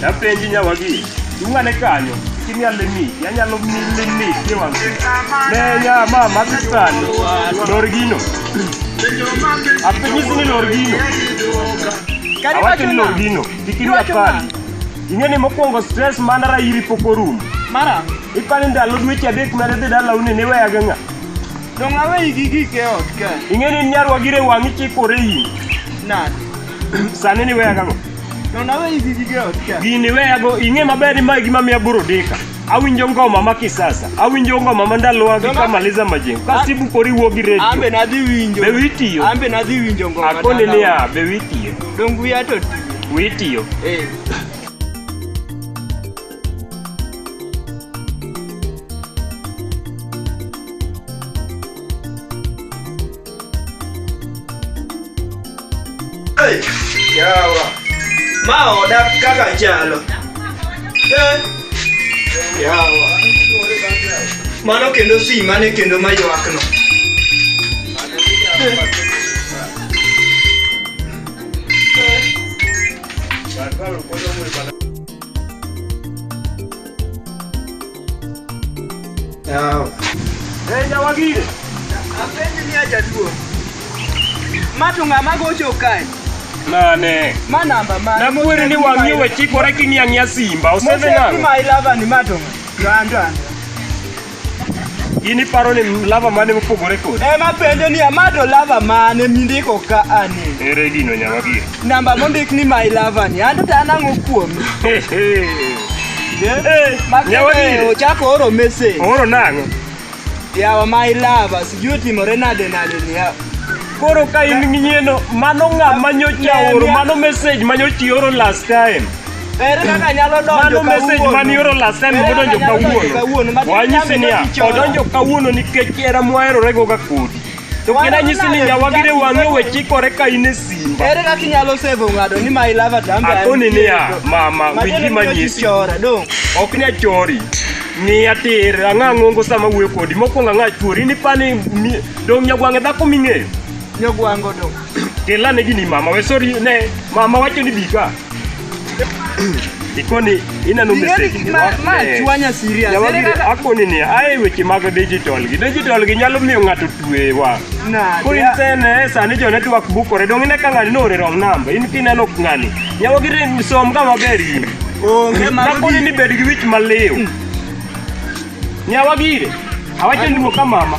Napenji nyawagi, dung'ane kanyo, kini alimi, yanyalo milimi ni wang'. Ne ya ma magi sani, lor gino. Apenyisi ni lor gino. Kari Awacho wacho ni lor na. gino, kikini Iwacho apani. nang'o? Ing'e ni mokwongo stress mana rairi pok orumo. Mara, Ipani ndalo dweche adek mane dhi dala une ne weyaga ng'a. dong' aweyi gi gik e ot ka. Ing'e ni nyarwa gire wang'i chikore in. Nade? Sani ni weya gang'o? To na weyi gi gige ot ka. Gini weya go ing'e maber ni ma gima miya buro dika. Awinjo ngoma ma kisasa. Awinjo ngoma ma ndalowa gi kama liza majengo. Ka sibu kori wuo gi redio. Ambe na dhi winjo. Be witiyo? Ambe na dhi winjo ngoma. Akoni ni ya be witiyo. Dong wiya to tiyo. Witiyo. Eh. Yawa. Ma oda kaka chalo. Eh. Yawa. Mano kendo si mane kendo maywakno. Barbaru, ¿cuándo muy Jawagire. Apenji ni ajaduo. Ma to ng'ama gocho kae? Mane. Ma namba mane? Namuwere ni wang'i we chikore king'i ang'ia simba. Osebe nang'o? Mose ma ilava ni ma to gando ando. In iparo ni lava mane mopogore kodi? Ema penjo ni ma to lava mane mindiko ka ani? Ere gino nyawagire? Namba mondik ni my lover ni anto ta nango kuom. Makete ochako oro message. Oro nango. Yawa my lover sijui timore nade nade ni yawa. Koro ka in nginyeno mano ng'a manyocha oro mano message manyochi oro last time. Ere kaka nyalo donjo kawuono. Mano message mani oro last time modonjo kawuono. Wanyisi niya odonjo kawuono nikech era mwaherorego ga kodi. To kendo anyisi ni nyawagire wang'e we chikore ka in e simba. Ere kaka inyalo save ng'ado ni my lover dambe. Akoni niya mama wiki manyisi. Ok ni achori. Ni atir ang'a ng'ongo sama wuoyo kodi mokwongo ang'a chwori ni pani dong' nyagwang'e dhako ming'eyo. Nyagwang'o dong'. Kela ne gini mama we sorry ne mama wacho ni bika. Ikoni ineno message ni wak ma ne. chwanya serious. Ere Nyawagi kaka- akoni ni ae weche mag digital gi. Digital gi nyalo miyo ng'ato tuewa. Na, Koro yeah. insene sani jo network bukore dong ine ka ng'ani noore wrong number. In kineno ng'ani. Nyawagi re- som ka maber in. Onge mago Nakoni ni bed gi wich maliw. Nyawagire. Awacho ni wuo ka mama.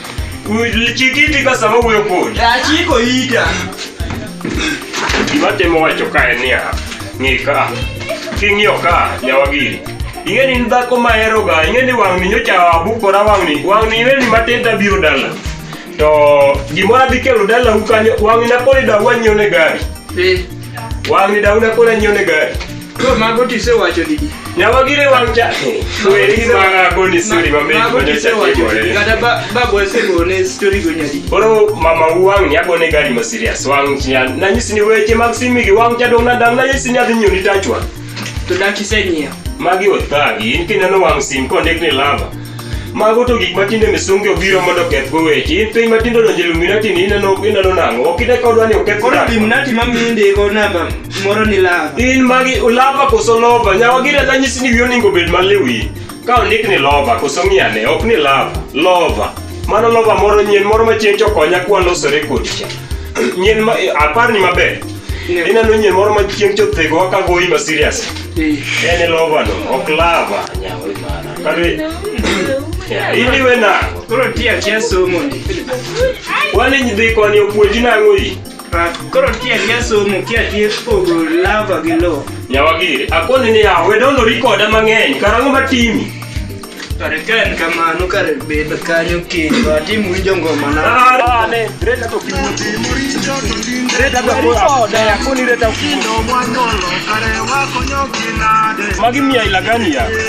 Ulichikiti kwa sababu ya kodi. Achiko ida. Ibate mo wacho kae niya. Ng'i ka. King'iyo ka nyawagiri. Ing'e ni in dhako mahero ga, ing'e ni wang'ni nyocha abukora wang'ni. Wang'ni ing'e ni matin tabiro dala. To gimoro adhi kelo dalau kanyo, wang'ni naponi dawa nyiewo ne gari. Eh. Wang'ni da una kona nyone gari. Yo mago tise wacho di. Nyawa gire wang' cha. Weri gi manga koni suri ma mei ma nyocha kigore. Kata ba ba boy se go ne story go nyadi. Oro mama wang' ni agone gari ma serious wang' cha. Na nyisi ni weche mag simi gi wang' cha dong na dang na nyisi ni adhi nyoni tachwa. To dang' tise nyiewo. Magi othagi, in kineno wang' sim kondik ni lava. Mago to gik matinde misungi obiro mondo okethgo weche. In piny matindo donjo Illuminati ni ineno ineno nang'o? Ok ine ka odwa ni oketh Koro nang'o? Illuminati ma miyo indiko namba moro ni lava. In magi ulava koso lova? Nyawa gira nanyisi ni wiyi onego obed maliwi. Ka ondik ni lova koso ng'iane, ok ni lava, lova. Mano lova moro nyien moro ma chieng' chokonya kwa losore kodi cha. Nyien ma eh, apar ni maber. Ne. Ineno nyien moro ma chieng' chothego ka goyi ma serious. Eh. En e lova no, ok lava. Nyawa imara. Kare. Ya, Ili we na. Koro nitie akia somo ni. Wale nyidhi koni opuonji nang'o yi? Ah, Koro nitie akia somo kia tie pogo lava gi lo. Nyawagiri. Akoni ni ya, we dondo rikoda mang'eny. Karang'o matimi? Kare ka en kamano kare bed kanyo kendo atim winjo ngoma na. Ah, ne. Reta to kimuti. Reta to koda. Akoni reta. Magi mia ila gani ya?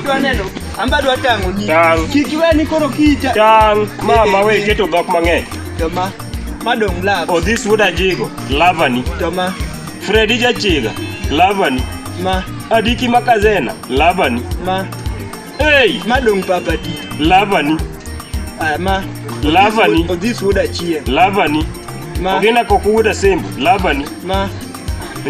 Idwa neno? Amba dwa tango ni. Tang'. Kik iwe ni koro kita. Tang', mama we keto dhok mang'eny. Toma. Madong love. Odhis wuod ajigo, lavani. Toma. Fredi jachiga, lavani. Ma. Adiki makazena, lavani. Ma. Hey! Madong papa ti. Lavani. Aya ma. Lavani. Odhis wuod achien. Lavani. Ma. Ogina koku wuod asembo, lavani. Ma.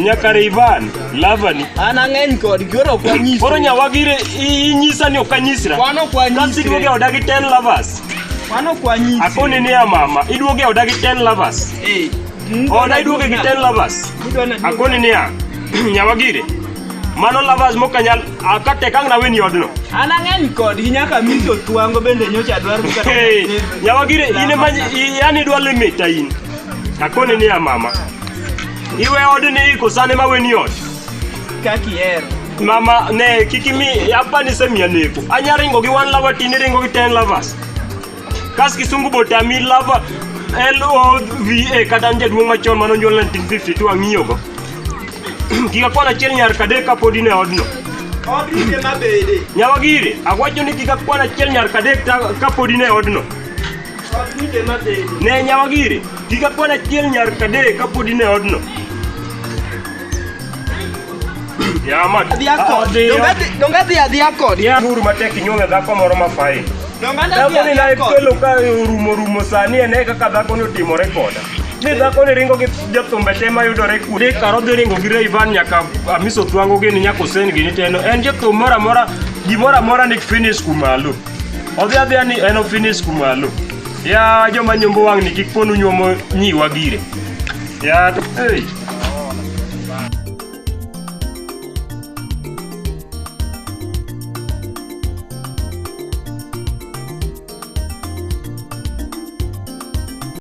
nyakare ivan lavani an ang'eny kod koro ok wanyis koro nyawagire inyisa ni ok anyisra Wan ok wanyisre. Kasi iduogo e oda gi 10 lovers mano ok wanyis akoni ni ya mama iduogo e oda gi 10 lovers Eh, oda iduogo gi 10 lovers idwa na- akoni ni ya nyawagire mano lovers mokanyal akate kang naweni odno an ang'eny kodgi nyaka miso twango bende nyocha dwaro kata Hey, nyawagire in ema yani idwa limita in Akoni niya mama, iwe odni iko sani ma weni ot. Kaki hero. Mama ne kik imi apa nisemiya neko. Anya ringo gi one lover tini ringo gi ten lovers. Kas kisungu botami lover LOVA kata jaduong' machon mane onyuol 1952 ang'iyogo. Kik akwan achiel nyar kadek kapod in e odno. Odrike mabede. Nyawagiri, awacho ni kik akwan achiel nyar kadek ta- kapod in e odno. Ne nyawa giri, kik akwana chiel nyar kadee kapod in e odno. Yamat. Donge adhi adhiya kodi? Uru matek inyuome dhako moro mafain. Dhakoni na ikelo ka orumo rumo sani ene kaka dhakoni otimore koda. Ni dhakoni ringo gi jathumbe te mayudore kude. Ni karo dhi ringo gi Rayvan nyaka Amiso Twango gini nyaka Hussein gini teno. En jathum moro amora gimoro amora ni finish kumalo. Odhi adhiya ni en ofinis kumalo. Ya joma nyombo wang'ni kik ponu nyuomo nyiwa gire. Ya to hey.